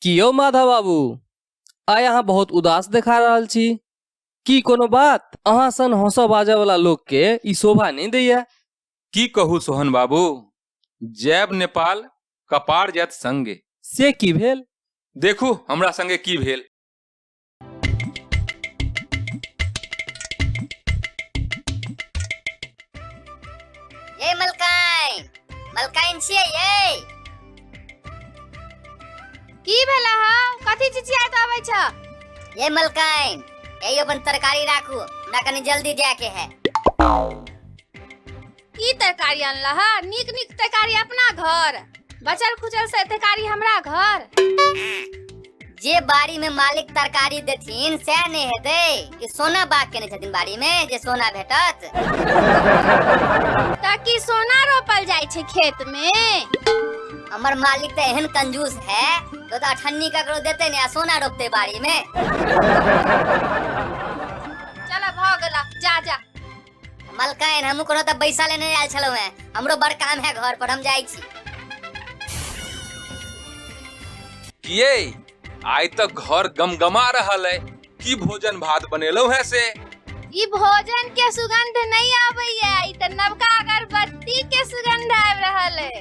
कि यौ माधव बाबू आइ अहाँ बहुत उदास देखा रहल छी की कोनो बात अहाँ सन हंसऽ बाजऽ वाला लोग के ई शोभा नहीं दैया की कहू सोहन बाबू जैब नेपाल कपार जात संगे से की भेल देखू हमरा संगे की भेल ये मलकाइन मलकाइन छियै ये की भेला ह कथी चिचियात आबै छ ये मलकाइन यही अपन तरकारी राखू हमरा कनी जल्दी जाके है की तरकारी अनला ह नीक नीक तरकारी अपना घर बचल खुचल से तरकारी हमरा घर जे बाड़ी में मालिक तरकारी देथिन सएह नहि हेतै कि सोना बाग केने छथिन बाड़ी में जे सोना भेटत त की सोना रोपल जाइ छै खेत में हमर मालिक तऽ एहन कंजूस है तो तऽ अठन्नी ककरो देते ने आ सोना रोपते बाड़ी में चल भऽ गेला जा जा मलकाइन हमहूँ कोनो तऽ बैसा लेने आयल छलहुँ हेँ हमरो बड़ काम है घर पर हम जाइ छी किए आइ तऽ घर गमगमा रहल है की भोजन भात बनेलहुँ है से ई भोजन के सुगंध नहीं आबैया ई तऽ नवका अगरबत्ती के सुगंध आबि रहल है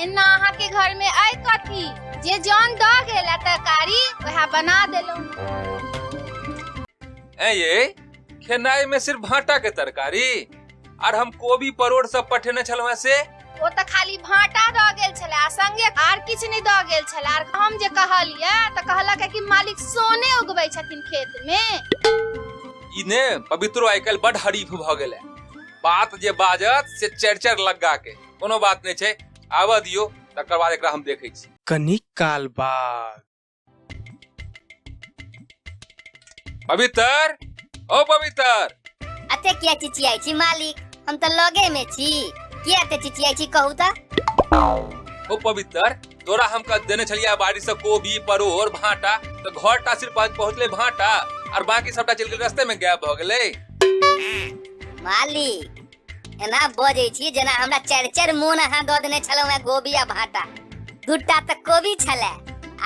एना अहाँ के घर में आइ कथी जे जान दऽ गेल तरकारी वएह बना देलहुँ ऐ ये खेनाई में सिर्फ भाटा के तरकारी और हम कोबी परोड़ सब पठेने छलवा से ओ त खाली भाटा द गेल छले आ संगे आर किछ नै द गेल छले आर हम जे कहलिए त कहलक कि मालिक सोने उगबै छथिन खेत में इने पवित्रो आइकल बड हरीफ भ गेले बात जे बाजत से चर चर लगा के कोनो बात नहीं छै आवा दियो तकर बाद एकरा हम देखै छी कनिक काल बाद पवित्र ओ पवित्र अते किया चिचियाई छी मालिक हम तो लगे में छी किया अते चिचियाई छी कहू ता ओ पवित्र तोरा हम कह देने छलिया बाड़ी से कोबी परोर भाटा तो घर टा सिर्फ आज पहुंचले भाटा और बाकी सबटा चल गेल रास्ते में गायब हो गेले मालिक एना बजै छी जेना हमरा चारि चारि मोन अहाँ दऽ देने छलहुँ हेँ गोभी आ भाटा दूटा तऽ कोबी छलै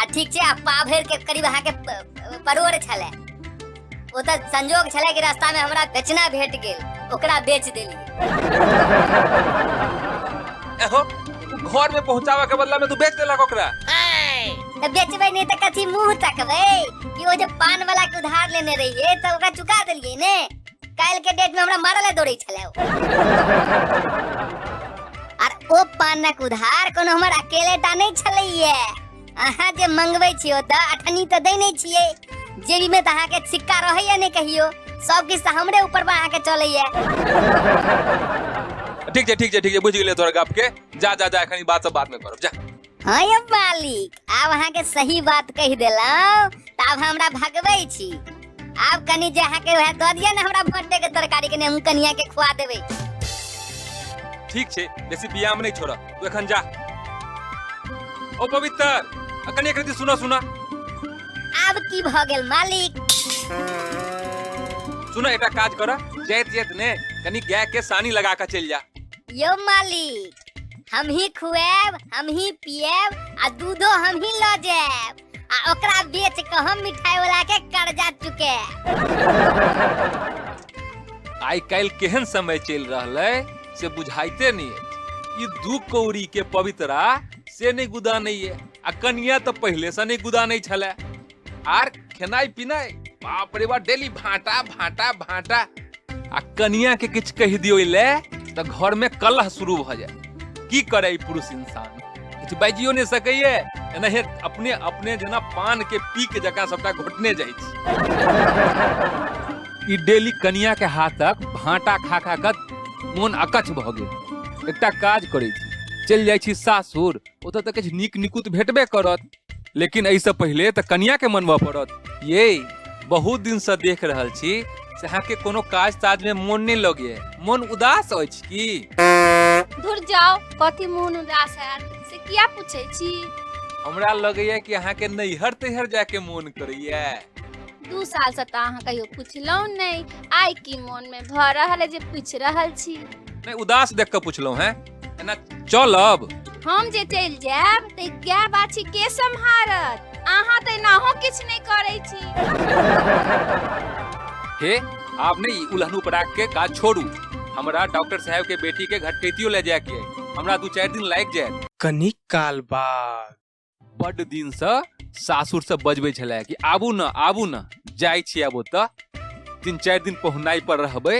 आ ठीक छै आ पा भरि के करीब अहाँके प- प- परोर छलै ओ तऽ संजोग छलै कि रास्तामे हमरा बेचना भेट गेल ओकरा बेच देली एहो घर में पहुंचावा के बदला में तू बेच देलक ओकरा तऽ बेचबै नहि तऽ कथी मुंह तकबै कि ओ जे पान वाला के उधार लेने रहिए तऽ ओकरा चुका देलिए ने काल्हि के डेट में हमरा मारले दौड़े छले ओ। आर ओ पानक उधार कोनो हमर अकेले टा नहीं छलैये अहाँ जे मंगबै छियो तऽ अठनी तऽ दै नहि छियै जेबी में तऽ अहाँके सिक्का रहैया नहि कहियो सब किछु तऽ हमरे ऊपर बा अहाँके चलैया ठीक छै ठीक छै ठीक छै बुझि गेलियै तोहर गप के जा जा जा एखन ई बात सब बाद में करब जा हँ यौ मालिक आब अहाँके सही बात कहि देलहुँ तऽ आब हमरा भगबै छी आब कनि जे अहाँके वएह दऽ दिअ ने हमरा भट्टे के तरकारी कनि हम कनिया के खुआ देबै ठीक छै बेसी व्यायाम नहि छोड़ तू एखन जा ओ पवित्र आ कनिया कृति सुना सुना आब की भऽ गेल मालिक सुना एकटा काज कर जाइत जाइत ने कनि गाय के सानी लगा के चलि जा यौ मालिक हम ही खुएब हम ही पिएब आ दूधो हम ही लऽ जाएब आ ओकरा बेच के हम मिठाई वाला के कर्जा चुके आइ काल्हि केहन समय चलि रहल है से बुझाइते नहीं है ई दू कौड़ी के पवित्रा से नहीं गुदा नहीं है आ कनिया तो पहले से नहीं गुदा नहीं छले आर खेनाइ पिनाइ बाप रे बा डेली भाटा भाटा भाटा आ कनिया के किछ कहि दियो ले त घर में कलह शुरू भ जाए की करे ई पुरुष इंसान किछ बाजियो नहीं सकैए एनाहे अपने अपने जेना पान के पी के जकाँ सबटा घोटने जाइ छी ई डेली कनिया के हाथक भाटा खा खा क मोन अकच भ गेल एकटा काज करै छी चलि जाइ छी सासुर ओतऽ तऽ किछु नीक निकुत भेटबे करत लेकिन एहिसँ पहिले तऽ कनिया के मनबऽ पड़त ये बहुत दिन से देख रहल छी से अहाँ के कोनो काज ताज में मोन नहीं लगे मोन उदास अछि की धुर जाओ कथी मोन उदास है से किया पूछे छी हमरा लगैया कि अहाँ के नैहर तैहर जाके मोन करैया दू साल से तो अहाँ कहियो पूछलहुँ नहीं आइ की मोन में भऽ रहल है जे पूछ रहल छी नहीं उदास देख के पूछलहुँ हैं एना चलब हम जे चलि जायब तऽ गाय बाछी के सम्हारत अहाँ तऽ एनाहो किछु नहि करै छी हे आपने ई उलहन उपराग के काज छोड़ू हमरा डॉक्टर साहब के बेटी के घटकैतियो ले जाए के है। हमरा दू चार दिन लाग जाए कनिक काल बाद बड दिन से सासुर से बजबे छले कि आबू न आबू न जाय छी आबो त तीन चारि दिन पहुनाई पर रहबे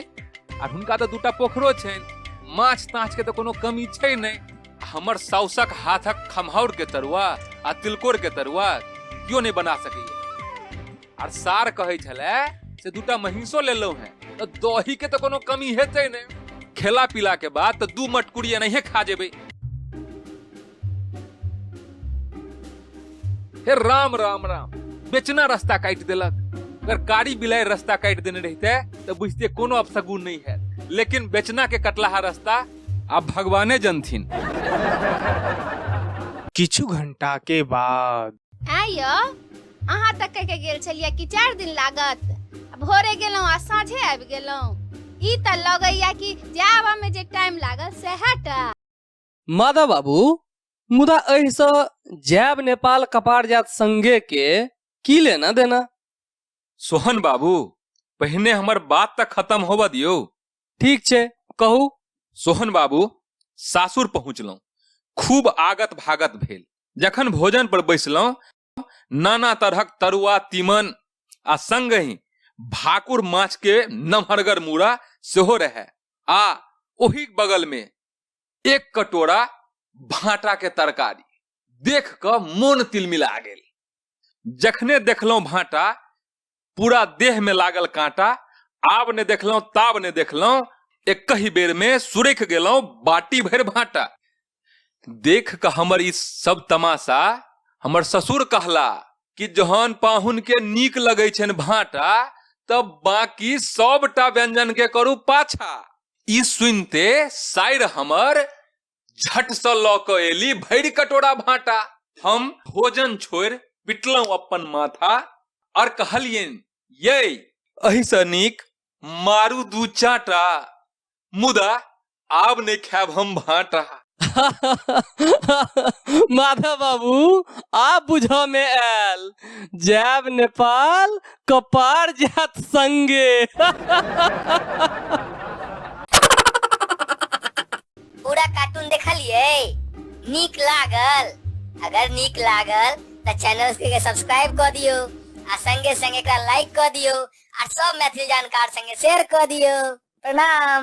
आर हुनका तऽ दूटा पोखरो छनि माछ ताछ के तऽ कोनो कमी छै नहि आ हमर साउसक हाथक खमहौर के तरुआ आ तिलकोर के तरुआ कियो नहि बना सकैए आर सार कहै छले से दूटा महींसो लेलहुं हैं तऽ दही के तऽ कोनो कमी हेतै नहि खेला पीला के बाद तऽ दू मटकुरी एनाहिए खा जेबै हे राम राम राम बेचना रास्ता काटि देलक अगर कारी बिलाइ रास्ता काटि देने रहते तऽ बुझते कोनो अपसगुन नहि हैत लेकिन बेचना के कटलाहा रास्ता आब भगवाने जनथिन किछु घंटा के बाद ऐं यौ अहाँ तऽ कहि के गेल छलियै कि चारि दिन लागत आ भोरे गेलहुँ आ साँझे आबि गेलहुँ ई तऽ लगैया कि जायबमे जे टाइम लागल सएह टा माधव बाबू मुदा एहिसँ जैब नेपाल कपार जात संगे के की लेना देना सोहन बाबू पहिने हमर बात तऽ खत्म होबऽ दियौ ठीक छै कहू सोहन बाबू सासुर पहुँचलहुँ खूब आगत भागत भेल जखन भोजन पर बैसलहुँ नाना तरहक तरुआ तीमन आ संगहि भाकुर माछ के नमहरगर मूड़ा सेहो रहे आ ओहि बगल में एक कटोरा भाटा के तरकारी देख क मोन तिलमिला गेल जखने देखलहुं भाटा पूरा देह में लागल कांटा आब ने देखलहुं ताब ने देखलहुं एक ही बेर में सुरेख गेलहुं बाटी भर भाटा देख के हमर ई सब तमाशा हमर ससुर कहला कि जहन पाहुन के नीक लगै छनि भाटा तब बाकी सबटा व्यंजन के करू पाछा ई सुनते साइर हमर झट से लऽ कऽ एली भरि कटोरा भाटा हम भोजन छोड़ पिटलहुँ अपन माथा और कहलियन ये अही से नीक मारू दू चाटा मुदा आब नहीं खायब हम भाटा माधव बाबू आ बुझ में आयल जायब नेपाल कपार जात संगे पूरा कार्टून देखलिए नीक लागल अगर नीक लागल तो चैनल के सब्सक्राइब कर दियो आ संगे संगे एकरा लाइक कर दियो आ सब मैथिली जानकार संगे शेयर कर दियो प्रणाम